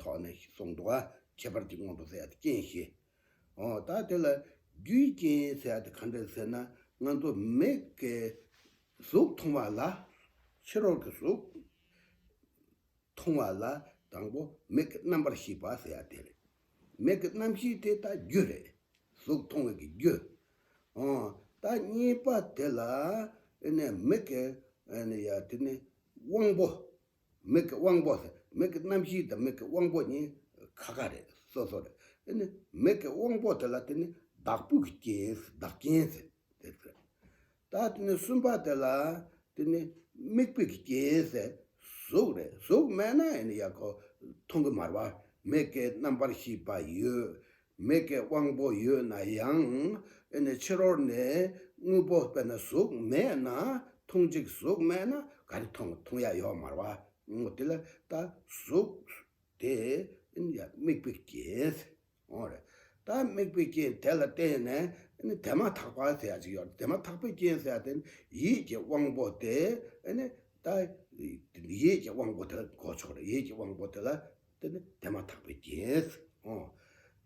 ཐོག་ནས་གསུངས་འདུག་ཨ། ཁྱད་པར་གྱི་སྔོན་དུ་ཟད་དེ་རྐྱེན་བཞི། ཨོ། ད་དེ་ལ་རྒྱུའི་རྐྱེན་ཟད་དེ་ག་འདྲ་ཟེར་ན་ང་ཚོ་མི་གའི་གཟུགས་མཐོང་བ་ལ་ཕྱི་རོལ་གྱི་གཟུགས་མཐོང་བ་ལ་དང་པོ་མིག་གི་རྣམ་པར་ཤེས་པ་ཟེར་བ་དེ་རེད། མིག་གི་རྣམ་ཤེས་དེ་ད་རྒྱུ་རེད། གཟུགས་མཐོང་བའི་གི་རྒྱུ། ཨོ། ད་གཉིས་པ་དེ་ལ་ཨེ་ནས་མིག་གི་ཨེ་ནས་ཡ་དེ་ནས་དབང་པོ། མིག་གི་དབང་པོ། མིག་གི་རྣམ་ཤེས་དང་མིག་གི་དབང་པོ་གཉིས་ཁ་ཁ་རེད། སོ་སོ་རེད། དེ་ནི་མིག་གི་དབང་པོ་དེ་ལ་དེ་ནི་བདག་པོའི་རྐྱེན། བདག་རྐྱེན་ཟེར། དེ་ཚོས། ད་དེ་ནི་གསུམ་པ་དེ་ལ་དེ་ནི་དམིགས་པའི་རྐྱེན་ཟེར། གཟུགས་རེད། གཟུགས་མེད་ན་ཡང་ཡག་གོ། མཐོང་གི་མར་བ། མིག་གི་རྣམ་པར་ཤེས་པ་ཡོད། མི་དགེ་དབང་པོ་ཡོད་ན་ཡང་དཔེར་ན་ཕྱི་རོལ་ནས་དངོས་པོ་དཔེར་ན་གཟུགས་མེད་ན་མཐོང་ཅིག་གཟུགས་མེད་ན་ག་རེ་མཐོང་མཐོང་ཡ་ཡོད་མར་བ་ངོ་དེ་ལ་ད་གཟུགས་དེ་དམིགས་པའི་རྐྱེན་ངོ་རེད་ད་དམིགས་པའི་རྐྱེན་དེ་ལ་བརྟེན་ནས་དེ་མ་ཐག་པ་ཟེར་ཡ་ཅིག་ཡོད་རེད་དེ་མ་ཐག་པའི་རྐྱེན་ཟེར་ཡ་དེ་ནི་ཡིད་ཀྱི་དབང་པོ་དེ་ནི་ད་ཡིད་ཀྱི་དབང་པོ་དེ་ལ་གོ་ཆོག་རེད་ཡིད་ཀྱི་དབང་པོ་དེ་ལ། འདི་ནི་དེ་མ་ཐག་པའི་རྗེས་སུ་འོང།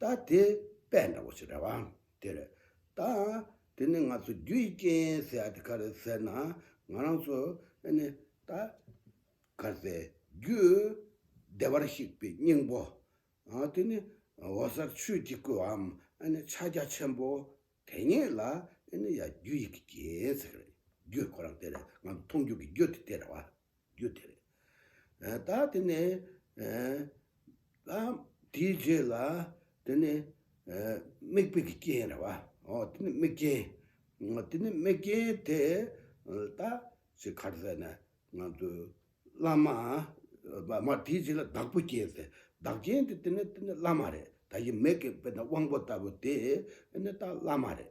ད་དེ་པས་འདྲ་བོ་ཞིག་རེད་བ། དེར་ད་དེ་ནི་ང་ཚོ་རྒྱུ་ཡི་རྐྱེན་ཟེར་ཡ་དེ་ག་རེད་ཟེར་ན་ང་རང་ཚོ་ནི་ད་ག་ཟེ་རྒྱུ་བདེ་བར་གཤེགས་པའི་སྙིང་པོ། དེ་ནི་འོ་གསར་ཆོས་ཀྱི་སྐུ་འམ་ཕྱག་རྒྱ་ཆེན་པོ་དེ་ཉིད་ལ་ཡ་རྒྱུ་ཡི་གི་རྐྱེན་ཟེར། རྒྱུ་ཁོ་རང་དེ་རེད་ང་ཚོ་མཐོང་རྒྱུ་གི་རྒྱུ་དེ་དེ་རེད་བ། རྒྱུ་དེ་རེད། ད་དེ་ནས་དེའི་རྗེས་ལ་དེ་ནི་དམིགས་དཔེ་ཀྱི་རྐྱེན་རེད་བ། དེ་ནི་དམིགས་རྐྱེན། དེ་ནི་དམིགས་རྐྱེན་དེ་ད་ཅི་གར་ཟེར་ན་ང་ཚོའི་བླ་མ། མ་དེའི་རྗེས་ལ་བདག་པོ་རྐྱེན་ཟེར། བདག་རྐྱེན་དེ་དེ་ནི་བླ་མ་རེད། ད་ཡི་མེད་ཀྱི་དཔེར་ན་དབང་པོ་ལྟ་བུ་དེ་ནི་ད་བླ་མ་རེད།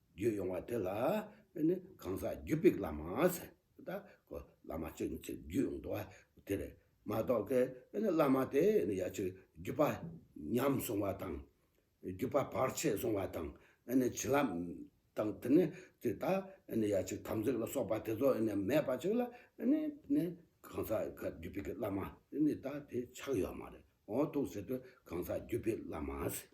བརྒྱུད་ཡོང་བ་དེ་ལ་ཨེ་ནི་གང་ཟག་བརྒྱུད་པའི་བླ་མ་ཟེར། ད་གོ་བླ་མ་གཅིག་ནི་ཚེ་བརྒྱུད་ཡོང་འདུག་བ་དེ་རེད་མ་གཏོགས་ཀི་ཨེ་ནི་བླ་མ་དེ་ཨེ་ནི་ཡ་ཆུ་བརྒྱུད་པ་ཉམས་སོང་བ་དང། བརྒྱུད་པ་བར་ཆད་སོང་བ་དང་ཨེ་ནི་བྱིན་རླབས་དང་དེ་ནི་དེ་ད་ཨེ་ནི་ཡ་ཆུ་དམ་ཚིག་ལ་སོགས་པ་དེ་ཚོ་ཨེ་ནི་མེད་པ་ཅིག་ལ་ཨེ་ནི་ནི་གང་ཟག་བརྒྱུད་པའི་བླ་མ་ཨེ་ནི་ད་དེ་ཆགས་ཡོད་མ་རེད་འོང་འདུག་ཟེར་དུས་གང་ཟག་བརྒྱུད་པའི་བླ་མ་ཟེར།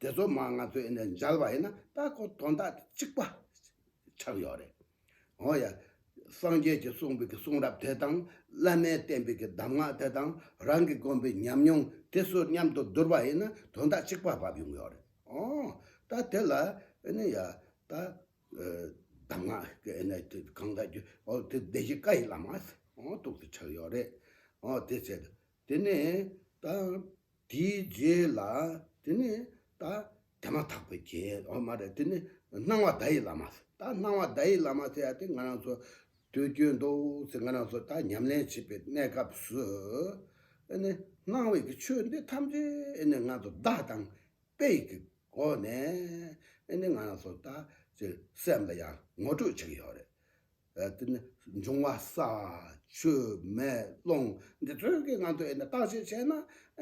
དེ་ཚོ་མ་ང་ཚོས་འདི་འཇལ་བ་ཡིན་ན་ད་ཁོ་དོན་དག་དེ་གཅིག་པ་ཆགས་ཡོད་རེད། འོ་ཡ། སངས་རྒྱས་ཀྱི་གསུངས་པའི་གི་གསུང་རབ་དེ་དང་བླ་མའི་བསྟན་པའི་གི་གདམས་ངག་དེ་དང་རང་གི་དགོན་པའི་ཉམས་མྱོང་དེ་སོ་མཉམ་དུ་བསྡུར་བ་ཡིན་ན་དོན་དག་གཅིག་པ་བབས་ཡོང་ཡོད་རེད། འོང། ད་དེ་ལ་ནི་ཡ། ད། གདམས་ངག་གི་ནི་དེ་གང་དག་རྒྱུ་འོ་དེ་བདེ་གཤེགས་བཀའ་ཡི་བླ་མ། འོང་ཏོག་དེ་ཆགས་ཡོད་རེད། འོ་དེ་ཚེ། དེ་ནས་ད། དེའི་རྗེས་ལ་དེ་ནས་ད། དེ་མ་ཐག་པའི་རྗེས་འོ་མ་རེད་དེ་ནི་སྣང་བ་བརྡ་ཡི་བླ་མ་ཟེར་ད་སྣང་བ་བརྡ་ཡི་བླ་མ་ཟེར་ཡ་དེ་ང་རང་ཚོ་དུས་རྒྱུན་དུ་ཚེ་ང་རང་ཚོ་ད་ཉམས་ལེན་བྱེད་པའི་གནས་སྐབས་སུ། ཨེ་ནི་སྣང་བའི་གི་ཆོས་འདི་ཐམས་ཅད་ཨེ་ནི་ང་ཚོ་བརྡ་དང་དཔེ་ཡི་གི་སྒོ་ནས་ཨེ་ནི་ང་རང་ཚོ་ད་ཚེ་སེམས་ལ་ཡང་ངོ་སྤྲོད་བྱེད་ཀྱི་ཡོད་རེད་དེ་ནི་འབྱུང་བ་ས་ཆུ་མེ་རླུང་འདི་དྲོད་ཀྱི་ངང་དུ་བརྟག་དཔྱད་བྱས་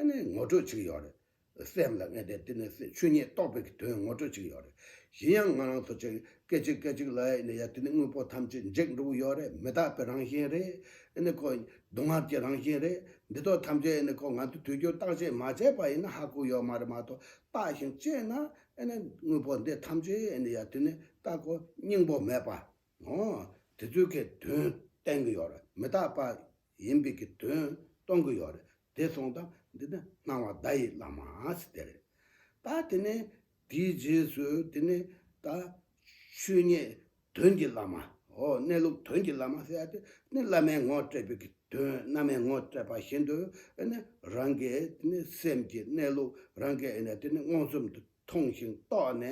ན་ངོ་སྤྲོད་བྱེད་ཀྱི་ཡོད་རེད། སེམས་ལ་ངེས་ཏེ་དེ་ནི་ཆོས་ཉིད་རྟོགས་པའི་དོན་ངོ་སྤྲོད་བྱེད་ཀྱི་ཡོད་རེད། གཞན་ཡང་ང་རང་ཚོ་ཅིག་སྐད་ཅིག་སྐད་ཅིག་ལ་ཡང་དེ་ནི་དངོས་པོ་ཐམས་ཅད་འཇིག་འགྲོ་གི་ཡོད་རེད་མི་རྟག་པའི་རང་བཞིན་རེད། སྡུག་བསྔལ་གྱི་རང་བཞིན་རེད། འདི་དག་ཐམས་ཅད་ནི་ང་ཚོས་དུས་རྒྱུན་བརྟག་དཔྱད་མ་བྱས་པ་ཡིན་ན་ཧ་གོ་ཡོད་མ་རེད་མ་གཏོགས་བརྟག་ཞིང་དཔྱད་ན་དངོས་པོ་འདི་ཐམས་ཅད་ཡང་དེ་ནི་རྟག་གོ་སྙིང་པོ་མེད་པ་ངོ། དེ་ཚོའི་ཁའི་དོན་བསྟན་གི་ཡོད་རེད་མི་རྟག་པ་ཡིན་པའི་ཀྱི་དོན་གཏོང་གི་ཡོད་རེད་དེ་སོང་ད་འདི་ནི་སྣང་བ་བརྡ་ཡི་བླ་མ་སི་དེ་རེད་ད་དེ་ནས་དེའི་རྗེས་སུ་དེ་ནས་ད་ཆོས་ཉིད་དོན་གྱི་བླ་མ་ཧོ་གནས་ལུགས་དོན་གྱི་བླ་མ་སི་ཨ་དེ་ནི་བླ་མའི་ངོ་སྤྲད་པའི་ཀྱི་དོན་བླ་མའི་ངོ་སྤྲད་པ་བཞིན་དུ་ཨེ་ནི་རང་གི་དེ་ནི་སེམས་ཀྱི་གནས་ལུགས་རང་གི་ཨེ་ནི་དེ་ནི་མངོན་སུམ་དུ་མཐོང་ཞིང་རྟོགས་ནས་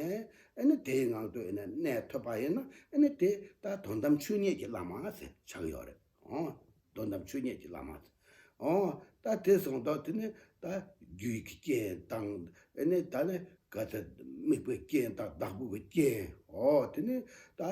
ཨེ་ནི་དེའི་ངང་དུ་ཨེ་ནི་གནས་ཐོད་པ་ཡིན་ན་ཨེ་ནི་དེ་ལྟར་དོན་དམ་ཆོས་ཉིད་ཀྱི་བླ་མ་ཟེར་ཆགས་ཡོད་རེད་ཨོ། དོན་དམ་ཆོས་ཉིད་ཀྱི་བླ་མ་ཟེར་ཨོ། ད་དེ་སོང་དོགས་དེ་ནི་ད་རྒྱུའི་རྐྱེན་དང་ཨེ་ནི་ད་ནི་ག་ཚད་དམིགས་པའི་རྐྱེན་དང་བདག་པོའི་རྐྱེན་ཨོ་དེ་ནི་ད་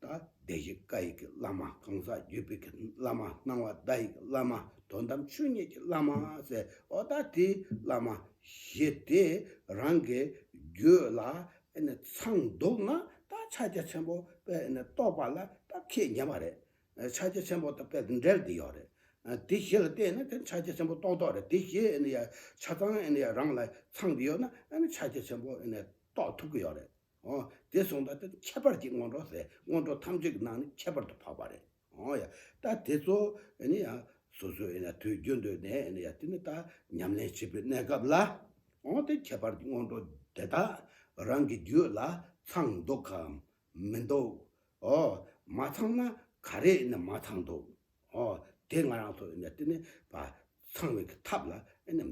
ད་ལྟའི་གཞི་བཀའ་ཡིག་གི་བླ་མ་གང་ཟག་བརྒྱུད་སྤེལ་གྱི་བླ་མ་སྣང་བ་བརྡ་ཡིག་གི་བླ་མ་དོན་དམ་ཆོས་ཉིད་ཀྱི་བླ་མ་ཟེར་བ་ད་ལྟའི་བླ་མ་ཞེས་དེ་རང་གི་རྒྱུད་ལ་ཚང་འདུག་ན་ད་ཕྱག་རྒྱ་ཆེན་པོ་དཔལ་རྟོགས་པ་ལ་ད་ཁས་ཉན་པ་རེད། ཕྱག་རྒྱ་ཆེན་པོ་དང་དཔལ་དང་འབྲེལ་དེ་ཡོད་རེད། དེ་བཞི་ལ་བརྟེན་ནས་ཕྱག་རྒྱ་ཆེན་པོ་རྟོགས་ཐོག་རེད་དེ་བཞི་ཡང་ཆ་ཚང་རང་ལ་ཚང་གི་ཡོད་ན་ཕྱག་རྒྱ་ཆེན་པོ་རྟོགས་ཐུབ་ཀྱི་ཡོད་རེད། དེ་གསུངས་པ་དེ་ཁྱད་པར་གྱི་སྔོན་འགྲོ་ཟེར། སྔོན་འགྲོ་ཐམས་ཅད་ཀྱི་ནང་ནས་ཁྱད་པར་དུ་འཕགས་པ་རེད། ད་དེ་ཚོ་སོ་སོའི་དུས་རྒྱུན་དུ་ནས་དེ་ནི་ད་ཉམས་ལེན་བྱེད་པའི་གནས་སྐབས་ལ། དེ་ཁྱད་པར་གྱི་སྔོན་འགྲོ་དེ་དག་རང་གི་རྒྱུད་ལ་ཚང་འདུག་གམ་མི་འདུག། མ་ཚང་ན་ག་རེ་མ་ཚང་འདུག། དེ་ང་རང་ཚོ་དེ་ནི་ཚང་བའི་ཐབས་ལ་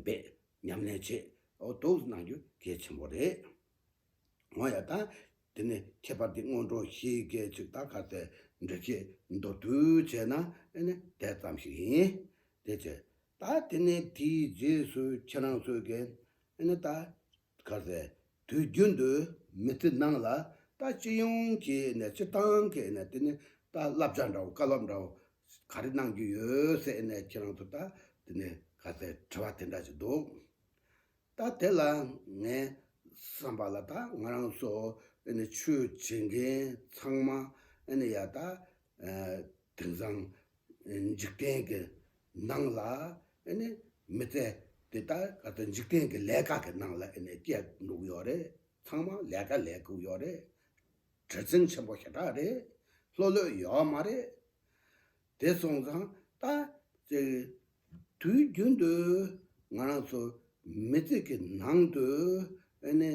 འབད་ཉམས་ལེན་བྱེད་དུ་གནང་རྒྱུ་གལ་ཆེན་པོ་རེད། ངོ་ཡ་དང། དེ་ནས་ཁྱད་པར་གྱི་སྔོན་འགྲོ་བཞི་སྐད་ཅིག་དང་ཁ་ཟས་འདྲི་བྱེད་མདོར་བསྡུས་བྱས་ན་ནི་དེ་ཙམ་ཞིག་ཡིན། དེ་ཚེ་ད་དེ་ནས་དེའི་རྗེས་སུ་ཁྱེད་རང་ཚོས་ཀྱི་ནི་ད་ཁ་ཟས་དུས་རྒྱུན་དུ་མི་ཚེ་ནང་ལ་ད་སྤྱི་ཡོངས་ཀྱི་ནི་སྤྱི་བཏང་གི་ནི་དེ་ནི་ད་བསླབ་བྱ་འདྲ་བོ་བཀའ་སློབ་འདྲ་བོ་ག་རེ་གནང་རྒྱུ་ཡོད་ཟེར་ནས་ཁྱེད་རང་ཚོ་ད་དེ་ནི་ཁ་ཟས་དྲི་བ་དེ་འདྲ་ཞིག་འདུག་ད་དེ་ལ་ངས་བསམ་པ་ལ་ད་ང་རང་ཚོ་ཨེ་ནི་ཆོས་བྱེད་མཁན་ཚང་མ་ཨེ་ནི་ཡ་ད་དེང་སང་འཇིག་རྟེན་གྱི་ནང་ལ་ཨེ་ནི་མི་ཚེ་འདི་ད་ག་ད་འཇིག་རྟེན་གྱི་ལས་ཀ་གི་ནང་ལ་ཨེ་ནི་སྐྱེལ་འདུག་ཡོད་རེད་ཚང་མ་ལས་ཀ་ལས་དགོས་ཡོད་རེད། དྲི་ཚིམ་ཆེན་པོ་ཞེ་དྲག་རེད་ལྷོད་ལྷོད་ཡོད་མ་རེད། དེ་སོང་ཙང་ལྟ་ཅིག། དུས་རྒྱུན་དུ་ང་རང་ཚོ་མི་ཚེ་གི་ནང་དུ་ནི་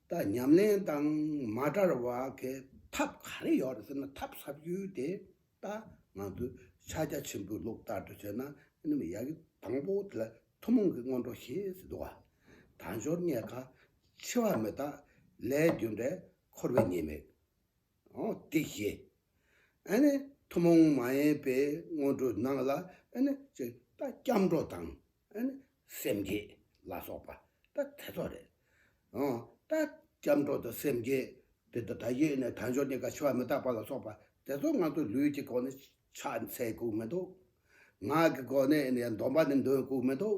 ད་ཉམས་ལེན་དང་མ་བྲལ་བ་གི་ཐབས་ག་རེ་ཡོད་རེད་ཟེར་ན་ཐབས་ཟབ་རྒྱུ་དེ་ད་ང་ཚོས་ཕྱག་རྒྱ་ཆེན་པོའི་ལུགས་ལྟར་དུ་བྱས་ན་ནི་མི་ཡག་གི་དང་པོ་དེ་ལ་ཐུན་མོང་གི་སྔོན་འགྲོ་ཞེས་སུ་འདུ་བ་དང་སྦྱོར་རྙེད་ཁ་ཕྱེ་བ་མི་དག་ལས་རྒྱུ་འབྲས་འཁོར་བའི་ཉེས་དམིགས། སྟེ་ཞེས་ཐུན་མོང་མ་ཡིན་པའི་སྔོན་འགྲོ་རྣམས་ལ་སྐྱབས་འགྲོ་དང་སེམས་བསྐྱེད་ལ་སོགས་པ་དེ་ཚོ་རེད། སྐྱབས་འགྲོ་དང་སེམས་བསྐྱེད་དེ་དང་ད་གཞི་ནས་དལ་འབྱོར་གཉིས་ཀ་འཆི་བ་མི་རྟག་པ་ལ་སོགས་པ་དེ་ཚོ་ང་ཚོ་ལུས་ཀྱི་སྒོ་ནས་ཕྱག་འཚལ་དགོས་མི་འདུག། ངག་གི་སྒོ་ནས་ཡང་འདོམས་པ་ནི་འདོན་དགོས་མི་འདུག།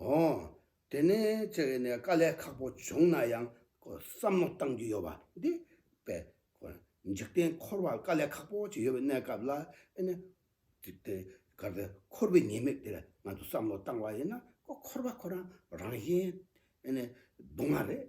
ཨོ། དེ་ནི་ཁྱེད་ཀྱིས་ནས་དཀའ་ལས་ཁག་པོ་བྱུང་ན་ཡང་བསམ་བློ་གཏང་རྒྱུ་ཡོད་པ་འདི་པས། འཇིག་རྟེན་འཁོར་བར་དཀའ་ལས་ཁག་པོ་ཅིག་ཡོད་པའི་གནས་སྐབས་ལ་ཨེ་ནས། འཇིག་རྟེན་འགར་དེ་འཁོར་བའི་ཉེས་དམིགས་དེར་ང་ཚོས་བསམ་བློ་བཏང་བ་ཡིན་ན་འཁོར་བ་ཁོ་རང་རང་བཞིན་ཨེ་ནས་སྡུག་བསྔལ་རེད།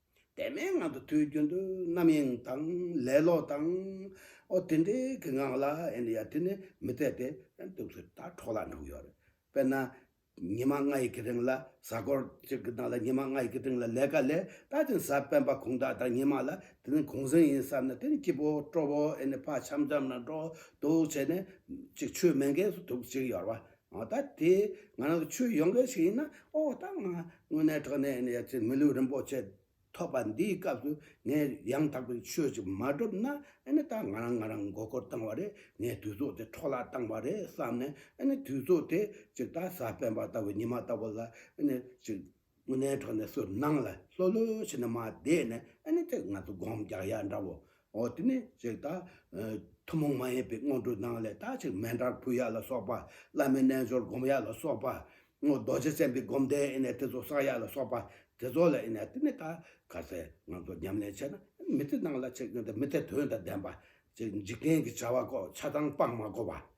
དེ་མའི་ངང་དུ་དུས་རྒྱུན་དུ་རྣམ་གཡེང་དང་ལེ་ལོ་དང། ཨོ་དེ་འདྲའི་གི་ངང་ལ་ཨེ་འདྲ་ཡ་དེ་ནི་མི་འཐད་དེ་ཨེ་འདུག་ཚུལ་དག་གྲོགས་ལ་འགྲོ་གི་ཡོད་རེད། དཔེར་ན། ཉི་མ་ལྔ་ཡི་གི་རིང་ལ་གཟའ་འཁོར་གཅིག་གི་ནང་ལ་ཉི་མ་ལྔ་ཡི་གི་རིང་ལ་ལས་ཀ་ལས་ད་དེ་གཟའ་སྤེན་པ་གུང་ཐག་དང་ཉི་མ་ལ་དེ་ནི་གུང་གཟེངས་ཡིན་བསམ་ན་དེ་ནི་སྐྱིད་པོ་སྤྲོ་བོ་ཨེ་ནི་ཕ་འཆམ་འཆམ་ན་འགྲོ་འདུག་བྱས་ནས་གཅིག་ཆུ་མེ་འགས་སུ་འདུག་ཅིག་ཡོར་བ་ང་ད་དེ་ང་རང་གི་ཆོས་ཡོང་མཁན་ཞིག་ཡིན་ན་ཨོ་ད་ང་དངོས་གནས་དྲག་གནས་ཡིན་ཡ་ཚེ་མི་ལུས་རིན་པོ་ཆེ་ཐོབ་པ་འདིའི་སྐབས་སུ་ངས་ཡང་དག་པའི་ཆོས་ཅིག་མ་སྒྲུབ་ན་ཨེ་ནི་ད་ང་རང་ང་རང་མགོ་སྐོར་བཏང་བ་རེད་ངའི་དུས་ཚོད་དེ་འཕྲོག་བརླག་བཏང་བ་རེད་བསམ་ནས་ཨེ་ནི་དུས་ཚོད་དེ་ཅིག་ད་གཟའ་སྤེན་པ་ལྟ་བུ་ཉི་མ་ལྟ་བུ་ལ་ཨེ་ནི་ཅིག་དངོས་གནས་གྲོགས་ནས་སུ་སྣང་ལ་ལྷོད་ལྷོད་བྱས་ནས་མ་བསྡད་ན་ཨ་ནི་དེ་ང་ཚོ་སྒོམ་རྒྱག་ཡ་འདྲ་བོ། འོ་དེ་ནས་ཅིག་ད། ཐུན་མོང་མ་ཡིན་པའི་དངོས་གྲུབ་སྣང་ལས་དག་ཅིག་མན་དྲར་ཕུལ་ཡ་ལ་སོགས་པ། བླ་མའི་རྣལ་འབྱོར་སྒོམ་ཡ་ལ་སོགས་པ། རྡོ་རྗེ་སེམས་དཔའི་སྒོམ་བཟླས་ཨེ་ནས་དེ་ཚོ་བསགས་ཡ་ལ་སོགས་པ། དེ་ཚོ་ལ་ཨེ་ནས་དེ་ནས་ད་ག་ཚད་ང་ཚོ་ཉམས་ལེན་བྱས་ན་མི་ཚེ་ནང་ལ་ཅིག་མི་ཚེ་དོན་དང་ལྡན་པ། ཅིག་འཇིག་རྟེན་གྱི་བྱ་བ་ཀོ་ཆ་ཚང་སྤངས་མ་གོ་བ།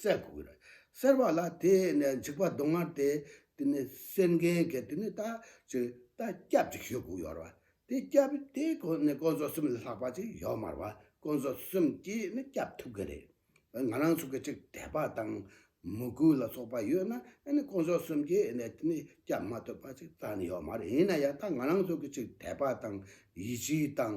སྲས་དགུ་བར་གསལ་བ་ལ་དེ་ནས་འཇིགས་པ་གདོང་དམར་དེ་དེ་ནས་གསེར་མཁན་གྱི་དེ་ནས་རྟ་གཅིག་རྟ་སྐྱབས་ཅིག་ཤོས་དགུ་ཡོར་བ་དེ་སྐྱབས་དེ་ཁོ་ནས་དཀོན་མཆོག་གསུམ་ལས་ལྷག་པ་ཅིག་ཡོར་དམར་བ་དཀོན་མཆོག་གསུམ་གྱིས་ནི་སྐྱབས་ཐུབ་གི་རེད་བས་ང་རང་ཚོ་གི་ཅིག་དད་པ་དང་མོས་གུས་ལ་སོགས་པ་ཡོད་ན་ཨེ་ནི་དཀོན་མཆོག་གསུམ་གྱིས་ནི་དེ་ནས་སྐྱབས་མ་ཐུབ་པ་ཅིག་རྩ་ནས་ཡོར་དམར་ཡིན་ན་ཡང་ད་ང་རང་ཚོ་གི་ཅིག་དད་པ་དང་ཡིད་ཆེས་དང་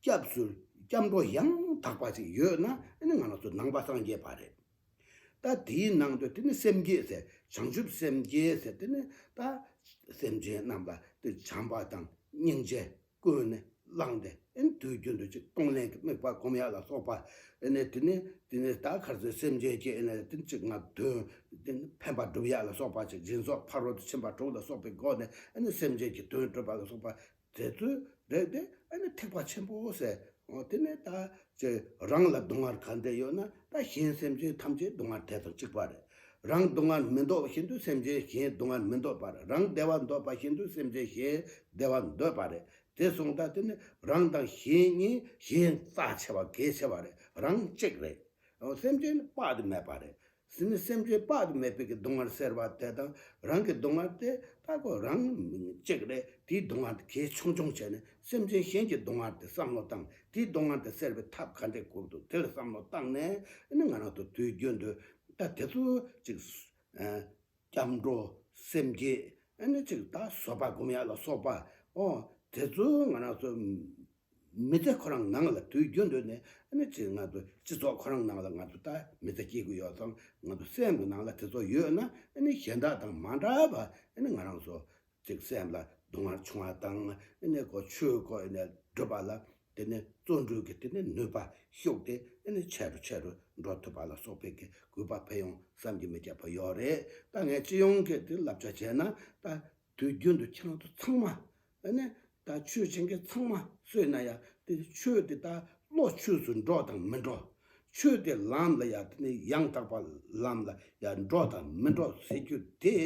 སྐྱབས་སུ་སྐྱབས་འགྲོ་ཡང་དག་པ་ཞིག་ཡོད་ན་དེ་ནི་ང་ལ་སོགས་ནང་པ་སངས་རྒྱས་པ་རེད། ད་དེའི་ནང་དུ་དེ་ནི་སེམས་བསྐྱེད་ཟེར་བྱང་ཆུབ་སེམས་བསྐྱེད་ཟེར་དེ་ནི་ད་སེམས་ཅན་རྣམས་ལ་དེ་བྱམས་པ་དང་སྙིང་རྗེ་ཀུན་ནས་བསླངས་ཏེ་དེ་ནི་དུས་རྒྱུན་དུ་ཅིག་གཏོང་ལེན་གྱི་དམིགས་པ་སྒོམ་ཡ་ལ་སོགས་པ་ནི་དེ་ནི་དེ་ནི་ད་གར་ཟོས་སེམས་ཅན་སྐྱེས་ནས་དེ་ནི་ཅིག་ང་དོན་དེ་ནི་ཕན་པ་བསྒྲུབ་ཡ་ལ་སོགས་པ་ཅིག་སྦྱིན་སོགས་ཕ་རོལ་ཏུ་ཕྱིན་པ་དྲུག་ལ་སོགས་པའི་སྒོ་ནས་དེ་ནི་སེམས་ཅན་གྱི་དོན་སྒྲུབ་པ་ལ་སོགས་པ་རྫས་རྩོལ་བས་དེ་ཨ་ནི་ཐེག་པ་ཆེན་པོའོ་ཟེར། དེ་ནས་ད་ཅི་རང་ལ་སྡུག་བསྔལ་གང་འདི་ཡོད་ན་ད་གཞན་སེམས་ཅན་ཐམས་ཅད་སྡུག་བསྔལ་དེ་དང་གཅིག་པ་རེད། རང་སྡུག་བསྔལ་མི་འདོད་བཞིན་དུ་སེམས་ཅན་གཞན་སྡུག་བསྔལ་མི་འདོད་པར་རང་བདེ་བ་འདོད་པ་བཞིན་དུ་སེམས་ཅན་གཞན་བདེ་བ་འདོད་པ་རེད། དེ་གསུངས་ད་དེ་ནི་རང་དང་གཞན་གཉིས་གཞན་རྩ་ཆེ་བ་གལ་ཆེ་བ་རེད་རང་གཅིག་རེད། སེམས་ཅན་དཔག་ཏུ་མེད་པ་རེད། གཟི་ནི་སེམས་ཅན་དཔག་ཏུ་མེད་པའི་གི་སྡུག་བསྔལ་ཟེར་བ་དེ་དང་རང་གི་སྡུག་བསྔལ་དེ་ལྟ་གོ་རང་གཅིག་ལས་དེའི་སྡུག་བསྔལ་དེ་གལ་ཆུང་ཆུང་བྱས་ནས་སེམས་ཅན་གཞན་གྱི་སྡུག་བསྔལ་དེ་བསམ་བློ་བཏང་དེའི་སྡུག་བསྔལ་དེ་སེལ་བའི་ཐབས་ག་འདྲས་བཀོད་འདུག་དེར་བསམ་བློ་བཏང་ནས་ནི་ང་རང་དུ་དུས་རྒྱུན་དུ་ད་དེ་ཚོ་ཅིག་སྐྱབས་འགྲོ་སེམས་བསྐྱེད་ཨེ་ནི་ཅིག་ད་གཟོད་པ་སྒོམ་ཡ་ལ་སོགས་པའོ། དེ་ཚོ་ང་རང་ཚོ་མི་ཚེ་ཁོ་རང་ནང་ལ་དུས་རྒྱུན་དུ་ནས་ཨེ་ནི་ཅིག་ང་ཚོ་སྤྱི་ཚོགས་ཁོ་རང་ནང་ལ་ང་ཚོ་ད་མི་ཚེ་སྐྱེལ་གི་ཡོད་ཙང་ང་ཚོ་སེམས་ཀྱི་ནང་ལ་དེ་ཚོ་ཡོད་ན་ཨེ་ནི་གཞན་དག་དང་མ་འདྲ་བ་ཨེ་ནི་ང་རང་ཚོ་ཅིག་སེམས་ལ་སྡུག་བསྔལ་བྱུང་བ་དང་སྒོ་ཆོས་བཀོད་ནས་བསྒྲུབ་པ་ལ་དེ་ནི་བརྩོན་འགྲུས་ཀྱི་དེ་ནི་ནུས་པ་ཞུགས་ཏེ་ཆེ་རུ་ཆེ་རུ་འགྲོ་ཐུབ་པ་ལ་སོགས་པའི་གི་གུས་པ་ཕལ་ཡོང་བསམ་གྱི་མི་ཁྱབ་པ་ཡོད་རེད་ད་ངས་སྤྱི་ཡོངས་ཀྱི་དེ་བསླབ་བྱ་བྱས་ན་ད་དུས་རྒྱུན་དུ་ཁྱང་ཐུ་ཚང་མ་ནི་ད་ཆོས་བྱེད་མཁན་ཚང་མ་བསོད་ན་ཡག་དེ་ཆོས་དེ་ད་བློ་ཆོས་སུ་འགྲོ་དང་མི་འགྲོ་ཆོས་དེ་ལམ་ལ་ཡག་དེ་ནི་ཡང་དག་པ་ལམ་ལ་ཡག་འགྲོ་དང་མི་འགྲོ་ཟེར་རྒྱུ་དེ་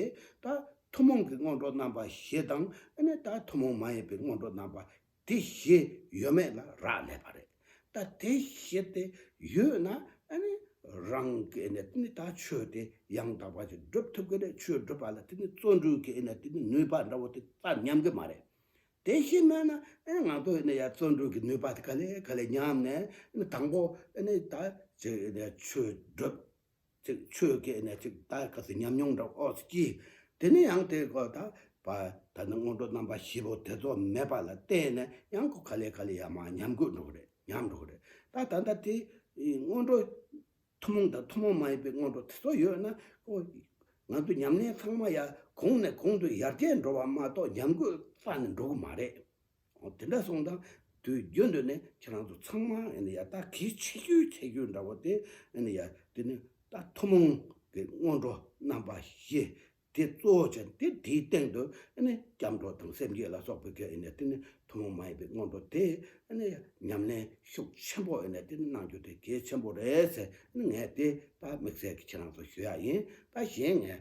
ད། ཐུན་མོང་གི་སྔོན་འགྲོ་རྣམ་པ་ཞེས་དང་ཨ་ནི་ད་ཐུན་མོང་མ་ཡིན་པའི་སྔོན་འགྲོ་རྣམ་པ་དེ་བཞི་ཡོད་མེད་ལ་རག་ལས་པ་རེད། ད་དེ་བཞི་དེ་ཡོད་ན་ཨ་ནི་རང་གི་ཨ་ནི་ད་ཆོས་དེ་ཡང་དག་པ་ཅིག་བསྒྲུབ་ཐུབ་ཀྱི་རེད་ཆོས་བསྒྲུབ་པ་ལ་ཨ་ནི་བརྩོན་འགྲུས་ཀྱི་ཨ་ནི་ནུས་པ་འདྲ་བོ་དེ་ད་ཉམས་ཀྱི་མ་རེད། དེ་བཞི་མེད་ན་ཨ་ནི་ང་ཚོ་ཨ་ནི་ཡང་བརྩོན་འགྲུས་ཀྱི་ནུས་པ་དེ་ག་ལས་ག་ལས་ཉམས་ནས་ཨ་ནི་དང་པོ་ཨ་ནི་ད་ཅིག་ཨ་ནི་ཆོས་བསྒྲུབ། ཅིག་ཆོས་སྐད་ནས་ཅིག་ལྟ་སྐབས་སུ་ཉམས་མྱོང་འདྲ་བོ་སྐྱེས། དེ་ནས་ཡང་དེ་གོ། ད་ནི་སྔོན་འགྲོ་རྣམ་པ་བཞི་པོ་དེ་ཚོ་མེད་པ་ལ་བརྟེན་ནས་ཡང་གོ་ག་ལེ་ག་ལེ་ཡ་མ་ཉམས་དགོས་འགྲོ་གི་རེད་ཉམས་འགྲོ་གི་རེད་ད། ད་ལྟ་དེ་སྔོན་འགྲོ་ཐུན་མོང་དང་ཐུན་མོང་མ་ཡིན་པའི་སྔོན་འགྲོ་དེ་ཚོ་ཡོད་ན། ང་ཚོ་ཉམས་ལེན་ཚང་མ་ཡ་གོང་ནས་གོང་དུ་ཡར་རྒྱས་འགྲོ་བ་མ་གཏོགས་ཉམས་རྒུད་རྩ་ནས་འགྲོ་གི་མ་རེད། དེ་འདྲ་སོང་དང་དུས་རྒྱུན་དུ་ནི་ཁྱེད་རང་ཚོ་ཚང་མ་ཡང་ད་གིས་འཆི་རྒྱུའི་ཚེ་རྒྱུ་འདྲ་བོ་དེ་ཡང་དེ་ནི་ད་ཐུན་མོང་གི་སྔོན་འགྲོ་རྣམ་པ་བཞི་དེ་གཙོ་བོ་ཅན་དེ་དེའི་སྟེང་དུ་སྐྱབས་འགྲོ་དང་སེམས་བསྐྱེད་ལ་སོགས་པའི་གེགས་ཡང་དེ་ནི་ཐུན་མོང་མ་ཡིན་པའི་སྔོན་འགྲོ་དེ་ཡང་ཉམས་ལེན་ཤུགས་ཆེན་པོ་ཡང་དེ་ནི་གནང་རྒྱུ་དེ་གལ་ཆེན་པོ་རེད་ཟེར་ངས་དེ་ད་དམིགས་བསལ་གྱིས་ཁྱེད་རང་ཚོ་ཞུ་ཡག་ཡིན་ད་གཞན་ངས་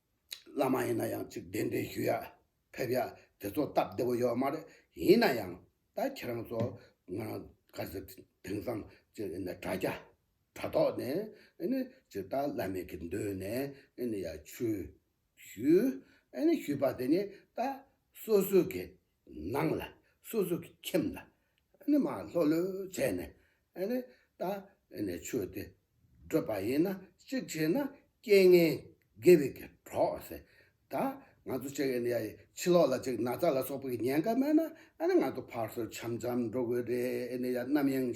བླ་མ་ཡིན་ན་ཡང་ཅིག་གདན་འདྲེན་ཞུ་ཡ། ཕེབས་ཡ། དེ་ཚོ་སྟབས་བདེ་བོ་ཡོད་མ་རེད། ཡིན་ན་ཡང། ད་ཁྱེད་རང་ཚོ། ང་རང། ག་ཚོད། དེང་སང། ཅིག་ཨེ་ན་དྲ་རྒྱ། དྲ་ཐོག་ནས། ཨེ་ནི། ཅིག་ད་བླ་མེད་ཀྱི་མདུན་ནས། ཨེ་ནི་ཡ། ཆོས། ཞུ། ཨེ་ནི་ཞུས་པ་དེ་ནི། ད། སོ་སོའི་གེ། ནང་ལ་སོ་སོ་གི་ཁྱིམ་ལ་ནི་མ་ལྷོ་ལོས་བྱས་ནས་ནི་ད་ནི་ཆོས་དེ་བགྲོད་པ་ཡིན་ན་གཅིག་བྱས་ན་རྐྱེན་ངན་དགེ་བའི་གྲོགས་ཟེར་ད་ང་ཚོ་ཅིག་ཡིན་ཡ་ཕྱི་ལོག་ལ་ཅིག་ན་ཚ་ལ་སོགས་པའི་གི་ཉེན་ཁ་མེད་ན་ནི་ང་ཚོ་ཕར་སོར་འཆམ་འཆམ་འགྲོ་དགོས་རེད་ཡ་ནམ་ཡང་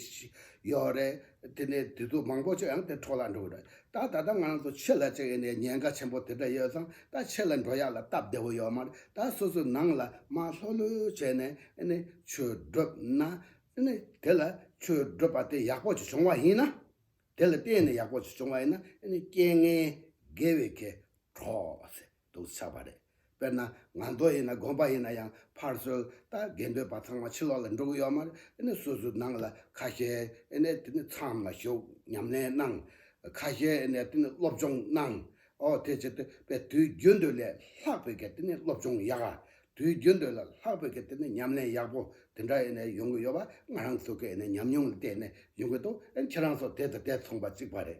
ཡོད་རེད་དེ་ནས་དུས་ཚོད་མང་པོ་ཅིག་ཡང་དེ་འཕྲོ་ལ་འགྲོ་དགོས་རེད། ད་ད་ལྟ་ང་རང་ཚོ་ཆོས་ལ་ཅིག་ཡེ་ནས་ཉེན་ཁ་ཆེན་པོ་དེ་འདྲ་ཡོད་ཙང་ད་ཆོས་ལ་འགྲོ་ཡག་ལ་སྟབས་བདེ་བོ་ཡོད་མ་རེད་ད་སོ་སོའི་ནང་ལ་མ་ལྷོད་ལྷོད་བྱས་ནས་ཡེ་ནས་ཆོས་བསྒྲུབ་ན་ཡེ་ནས་དེ་ལ་ཆོས་བསྒྲུབ་པ་དེ་ཡག་པོ་ཅིག་བྱུང་བ་ཡིན་ན་དེ་ལ་བརྟེན་ནས་ཡག་པོ་ཅིག་བྱུང་བ་ཡིན་ན་ཡེ་ནས་རྐྱེན་ངན་དགེ་བའི་ཁའི་གྲོགས་སེ་འདུག་ཚར་བ་རེད། དཔེར་ན་ང་རྡོ་ཡིན་ན་དགོན་པ་ཡིན་ན་ཡང་ཕར་ཚུར་ད་གེ་འདོད་པ་ཚང་མ་ཕྱི་ལོག་ལ་འགྲོ་གི་ཡོད་མ་རེད་ཨ་ནི་སོ་སོའི་ནང་ལ་ཁ་ཤས་ཨེ་ནས་དེ་ནི་ཚང་མ་ཞུགས་ཉམས་ལེན་གནང། ཁ་ཤས་ཨེ་ནས་དེ་ནི་སློབ་སྦྱོང་གནང། ཨོ་དེ་ཕྱིར་དེ་བས་དུས་རྒྱུན་འདོད་ལས་ལྷག་པའི་གེ་དེ་ནི་སློབ་སྦྱོང་ཡག། དུས་རྒྱུན་འདོད་ལས་ལྷག་པའི་གེ་དེ་ནི་ཉམས་ལེན་ཡག་པོ་དེ་འདྲ་ཨེ་ནས་ཡོང་གི་ཡོད་པ་ང་རང་ཚོ་གི་ཨེ་ནས་ཉམས་མྱོང་ལ་བལྟས་ནས་ཡོང་གི་འདུག་ཨེ་ནས་ཁྱེད་རང་ཚོ་དེ་དང་དེ་མཚུངས་པ་གཅིག་པ་རེད་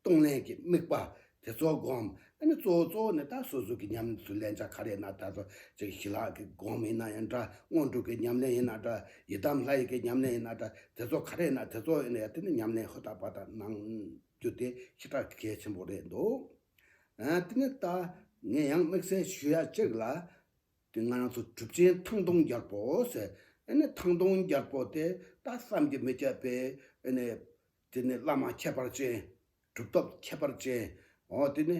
གཏོང་ལེན་གྱི་དམིགས་པ་དེ་ཚོ་སྒོམ་ཨ་ནི་གཙོ་བོ་གཙོ་བོ་ནི་ད་སོ་སོ་གྱི་ཉམས་ལེན་དུ་ལན་ཆ་ག་རེ་ན་ད་གཟོད་ཅིག་ཞི་ལྷག་གི་སྒོམ་ཡིན་ན་ཡང་འདྲ་སྔོན་འགྲོ་གི་ཉམས་ལེན་ཡིན་ན་འདྲ་ཡི་དམ་ལྷ་ཡི་གི་ཉམས་ལེན་ཡིན་ན་འདྲ་དེ་ཚོ་ག་རེ་ན་དེ་ཚོ་ཡིན་ན་ཡང་དེ་ནི་ཉམས་ལེན་ཧུར་ཐག་པ་དག་གནང་རྒྱུ་དེ་ཤི་ཕྲ་གལ་ཆེན་པོ་རེད་འདུག་དེ་ནི་ད་ངས་ཡང་དམིགས་བསལ་ཞུ་ཡ་གཅིག་ལ་དེ་ང་རང་ཚོ་གྲུབ་ཆེན་ཐང་སྟོང་རྒྱལ་པོ་ཟེར་ཨ་ནི་ཐང་སྟོང་རྒྱལ་པོ་དེ་ད་བསམ་གྱི་མི་ཁྱབ་པའི་ཨ་ནི་དེ་ནི་བླ་མ་ཁྱད་པར་ཅན། སྒྲུབ་ཐབས་ཁྱད་པར་ཅན། འོ་དེ་ནི།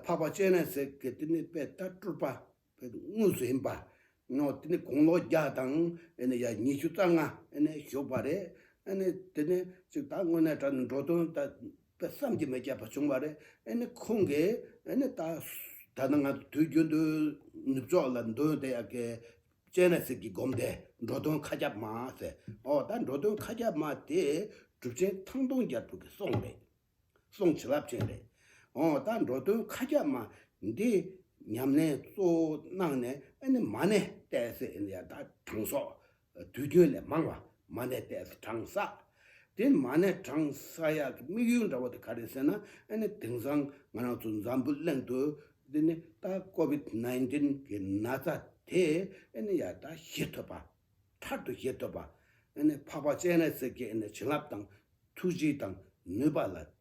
འཕགས་པ་སྤྱན་རས་གཟིགས་ཀྱི་དེ་ནི་དཔལ་རྟ་སྤྲུལ་པ། དངོས་སུ་ཡིན་པ། འོ་དེ་ནི་དགུང་ལོ་བརྒྱ་དང། ཨེ་ནི་ཡང་ཉི་ཤུ་རྩ་ལྔ། ཨེ་ནི་བཞུགས་པ་རེད། ཨེ་ནི་དེ་ནི། ཅིག་ད་དངོས་གནས་དྲན་འགྲོ་དོན་དེ། བསམ་གྱིས་མི་ཁྱབ་པ་བྱུང་བ་རེད། ཨེ་ནི་ཁོང་གིས། ཨེ་ནི་ད། ད་ནི་ང་དུས་རྒྱུན་དུ། ནུབ་ཕྱོགས་ལ་འདོན་དེ་ཡག་གི། བཙལ་ནས་གསེར་གྱི་སྒོམ་དེ་འགྲོ་དོན་མཁའ་ཁྱབ་མ་ཟེར། ཨོ་ད་འགྲོ་དོན་མཁའ་ཁྱབ་མ་དེ་གྲུབ་ཆེན་ཐང་སྟོང་རྒྱལ་ཕུག་གི་སྲོང་རེད། སྲོང་བྱིན་རླབས་ཅན་རེད། ཨོ་ད་འགྲོ་དོན་མཁའ་ཁྱབ་མ་འདི་ཉམས་ལེན་གཙོ་བོ་གནང་ནས་ཨེ་ནི་མ་ནས་བལྟས་ཚེ་ཨེ་ནི་ཡ་ད་གྲངས་སོགས་དུས་རྒྱུན་ལས་མང་བ་མ་ནས་པས་གྲང་ས། དེ་མ་ནས་གྲང་ས་ཡག་གི་དམིགས་ཡུལ་འདྲ་བོ་དེ་ག་རེད་ཟེར་ན་ཨ་ནི་དེང་སང་ང་རང་ཚོ་འཛམ་བུ་གླིང་དུ་འདི་ནི་ད COVID nineteen གི་ན་ཚ་དེ་ཨ་ནི་ཡག་ད་བཞེས་ཐོབ་པ། ཐར་དུ་བཞེས་ཐོབ་པ། ཨ་ནི་འཕགས་པ་སྤྱན་རས་གཟིགས་ཀྱི་ཨ་ནི་བྱིན་རླབས་དང་ཐུགས་རྗེ་དང་ནུས་པ་ལ་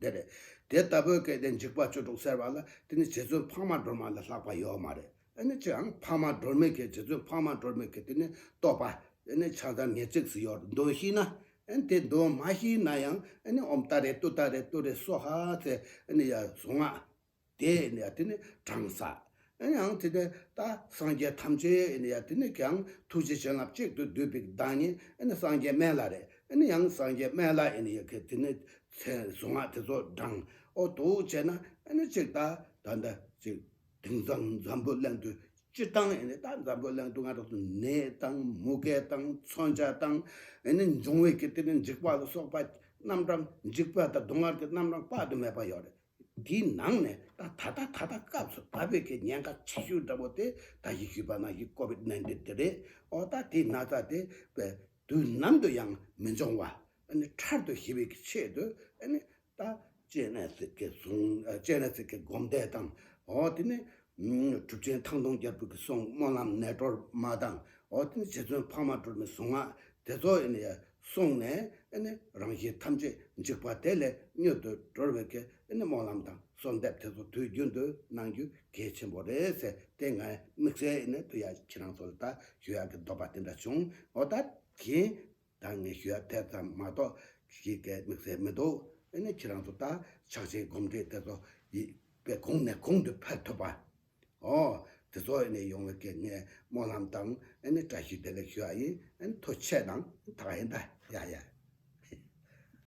དེ་རེད། དེ་ལྟ་བུའི་སྐད་དེ་འཇིགས་པ་བཅུ་དྲུག་ཟེར་བ་ལ་དེ་ནི་རྗེ་བཙུན་འཕགས་མ་སྒྲོལ་མ་ལས་ལྷག་པ་ཡོད་མ་རེད། དེ་ནི་ཅིའང་འཕགས་མ་སྒྲོལ་མའི་སྐད་རྗེ་བཙུན་འཕགས་མ་སྒྲོལ་མའི་སྐད་དེ་ནི་བསྟོད་པ། དེ་ནི་ཕྱག་དར་ངེས་ཚིགས་སུ་ཡོད་འདོད་ཤེས་ན། དེ་འདོད་མ་ཤེས་ན་ཡང་འོམ་ལྟ་རེད་ལྟོས་ལྟ་རེད་ལྟོས་རེད་སོགས་ཧ་ཚེ་ཡ་བཟོ་སྔགས། དེ་ནི་ཡང་དེ་ནི་གྲངས་ས། ཡང་དེ་ནི་ད་སངས་རྒྱས་ཐམས་ཅད་ནི་ཡང་དེ་ནི་ཀྱང་ཐུགས་རྗེ་བྱིན་རླབས་གཅིག་ཏུ་བསྡུས་པའི་བདག་ཉིད་ནི་སངས་རྒྱས་སྨན་བླ་རེ་ནི་ཡང་སངས་རྒྱས་སྨན་བླ་ཡིན་ཡང་དེ་ནི་ཚེ་གཟུངས་སྔགས་དེ་ཚོ་བགྲང་ཨོ་དུ་བྱས་ན་ནི་གཅིག་ད་ད་ད་གཅིག་དེང་སང་འཛམ་བུ་གླིང་དུ་སྤྱི་བཏང་ཡིན་ནི་ད་འཛམ་བུ་གླིང་དུ་སྔ་དྲགས་སུ་ནད་དང་མུ་གེ་དང་མཚོན་ཆ་དང་ནི་འབྱུང་བའི་གི་དེ་ནི་འཇིགས་པ་ལ་སོགས་པ་རྣམ་གྲངས་འཇིགས་པ་དང་སྡུག་བསྔལ་གྱི་རྣམ་གྲངས་དཔག་ཏུ་མེད་པ་ཡོད་རེད། འདིའི་ནང་ནས་ད་ད་ད་ད་ད་སྐབས་སུ་ད་བོད་ཀྱི་ཉེན་ཁ་ཆེ་ཤོས་འདྲ་བོ་དེ་ད་ཡིག་ཞུས་པ་ན་ཡིག་ཀོ་བིད་ནན་ཏིན་དེ་རེད་ཨོ་ད་དེའི་ན་ཚ་དེ་བའི་དུས་ནམ་དུ་ཡང་མི་འབྱུང་བ་ནི་ཕྲར་དུ་ཞི་བའི་ཆེད་དུ་ནི་ད་སྤྱན་རས་གཟིགས་ཀྱི་གཟུངས་སྤྱན་རས་གཟིགས་ཀྱི་སྒོམ་བཟླས་དང་ཨོ་དེ་ནི་གྲུབ་ཆེན་ཐང་སྟོང་རྒྱལ་པོ་ཀྱི་གསུང་སྨོན་ལམ་ནད་སྒྲོལ་མ་དང་ཨོ་དེ་ནི་རྗེ་བཙུན་འཕགས་མ་སྒྲོལ་མའི་གཟུངས་སྔགས་དེ་ཚོ་ནི་སོང་ནས་རང་བཞིན་ཐམས་ཅད་འཇིག་པ་དེ་ལས་མྱུར་དུ་གྲོལ་བའི་སྨོན་ལམ་དང་གསོལ་འདེབས་དེ་ཚོ་དུས་རྒྱུན་དུ་གནང་རྒྱུ་གལ་ཆེན་པོ་རེད་ཟེར་དེ་ངས་དམིགས་བསལ་དུ་ཡང་ཁྱེད་རང་ཚོ་ལ་ལྟ་ཞུ་ཡག་གི་འདོད་པ་དེ་འདྲ་བྱུང་འོ་ད་གིན་ད་ངས་ཞུ་ཡག་དེ་ཙམ་མ་གཏོགས་ཞིག་གི་དམིགས་བསལ་མི་འདུག་ཁྱེད་རང་ཚོ་ལྟ་ཕྱག་ཆེན་སྒོམ་སྒྲིག་དེ་ཚོ་ཡིད་དཔེ་གོང་ནས་གོང་དུ་འཕེལ་ཐུབ་པ། ཨོ། དེ་ཚོ་ཨེ་ནས་ཡོང་བའི་སྐད་ངས་སྨོན་ལམ་དང་ཨེ་ནས་བཀྲ་ཤིས་བདེ་ལེགས་ཞུ་ཨ་ཡིན་ཨེ་ནས་ཐོ་ཆས་དང་ཐག་ཨེ་འདའ་ཡ་ཡ།